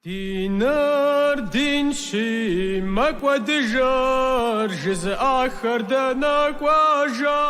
Диныр динщи, мэкӏуэдыжыр жызыӏахэр дэнэ кӏуэжа?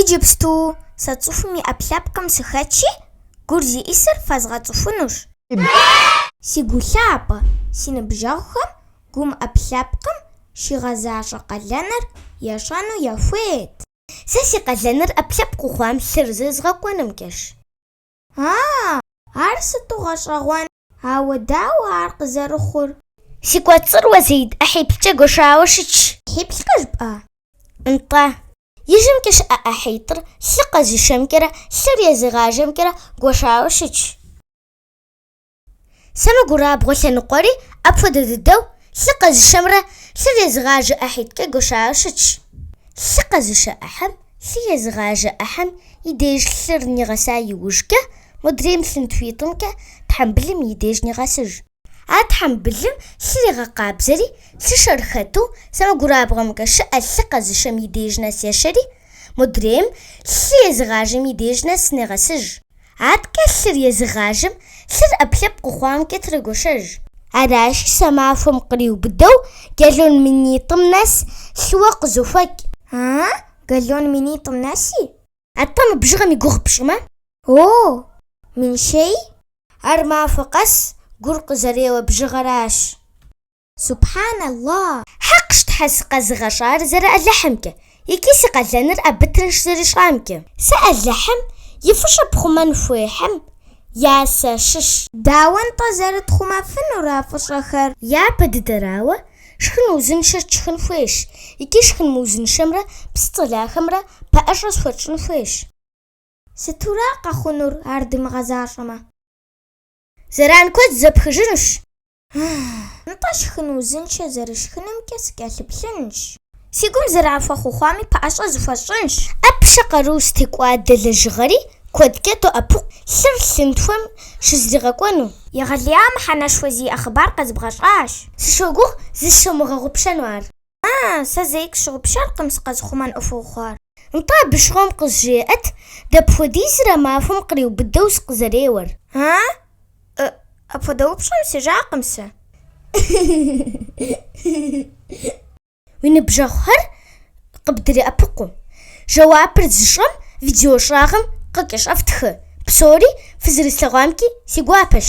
Иджыпсту сэ цӏыхум и ӏэпкълъэпкъым сыхэтщи, гур зиӏисыр фэзгъэцӏыхунущ. Си гу лъапӏэ, си ныбжьэгъухэм гум ӏэпкълъэпкъым щигъэзащӏэ къалэныр ещӏэну яхуейт. Сэ си къалэныр ӏэпкълъэпкъыу хъуам лъыр зызгъэкӏуэнымкӏэщ. А-а! Ар сыту гъэщӏэгъуэн! Ауэ дауэ ар къызэрыхъур? Си кӏуэцӏыр уэ, Зеид, ӏыхьиплӏкӏэ гуэшауэ щытщ. Ӏыхьиплӏкӏэ жыпӏа? Нтӏэ. Ижьымкӏэ щыӏэ ӏыхьитӏыр лъы къэзышэмкӏэрэ лъыр езыгъажэмкӏэрэ гуэшауэ щытщ. Сэмэгурабгъуэ лъэныкъуэри апхуэдэ дыдэу лъы къэзышэмрэ лъыр езыгъажэ ӏыхьитӏкӏэ гуэшауэ щытщ. Лъы къэзышэ ӏыхьэм лъы езыгъажэ ӏыхьэм и деж лъыр нигъэса иужкӏэ, модрейм лъынтхуитӏымкӏэ тхьэмбылым и деж нигъэсыж. А тхьэмбылым лъыр игъэкъабзэри, лъышэр хэту, сэмэгурабгъуэмкӏэ щыӏэ лъы къэзышэм и деж нэс ешэри, модрейм лъы езыгъажэм и деж нэс негъэсыж. Аткӏэ лъыр езыгъажэм лъыр ӏэпкълъэпкъыу хъуамкӏэ трегуэшэж. Аращи, сэ махуэм къриубыдэу галлон минитӏым нэс лъыуэ къызохуэкӏ. А-а, галлон минитӏым нэси? Атӏэ мы бжыгъэм и гугъу пщӏымэ? О, минищэи? Ар махуэ къэс гур къызэреуэ бжыгъэращ. Субхьаналлах! Хьэкъщ Тхьэ сыкъэзыгъэщӏар зэры Алыхьымкӏэ икӏи си къалэныр абы тынш зэрищӏамкӏэ. Сэ Алыхьым и фӏыщӏэ пхъумэн хуейхэм я сащыщ. Дауэ-нтӏэ зэрытхъумэфынур а фӏыщӏэхэр? Япэ дыдэрауэ, шхын узыншэ тшхын хуейщ икӏи шхын мыузыншэмрэ псы цӏэлахэмрэ пэӏэщӏэ зыхуэтщӏын хуейщ. Сытура къэхъунур ар дымыгъэзащӏэмэ? Зэран куэд зэпхыжынущ. Нтӏэ, шхын узыншэ зэрысшхынымкӏэ сыкӏэлъыплъынщ. Си гум зэран хуэхъуу хъуами пэӏэщӏэ зыхуэсщӏынщ. ӏэпщэ къару зытекӏуадэ лэжьыгъэри куэдкӏэ доӏэпыкъу лъыр лъынтхуэм щызригъэкӏуэну. Егъэлея мыхьэнэшхуэ зиӏэ хъыбар къызэбгъэщӏащ. Сыщогугъ зыщумыгъэгъупщэну ар. А, сэ зэи къысщыгъупщэркъым сыкъэзыхъумэн ӏуэхуу хъуар. Нтӏэ, абы щыгъуэм къызжеӏэт, дапхуэдизрэ махуэм къриубыдэу сыкъызэреуэр? А? Э, апхуэдэ упщӏэм сежакъым сэ. Уи ныбжьэгъухэр къыбдреӏэпыкъу. Жэуапыр зыщӏэм видео щӏагъым къыкӏэщӏэфтхы. Псори фызэрыслъэгъуамкӏи си гуапэщ.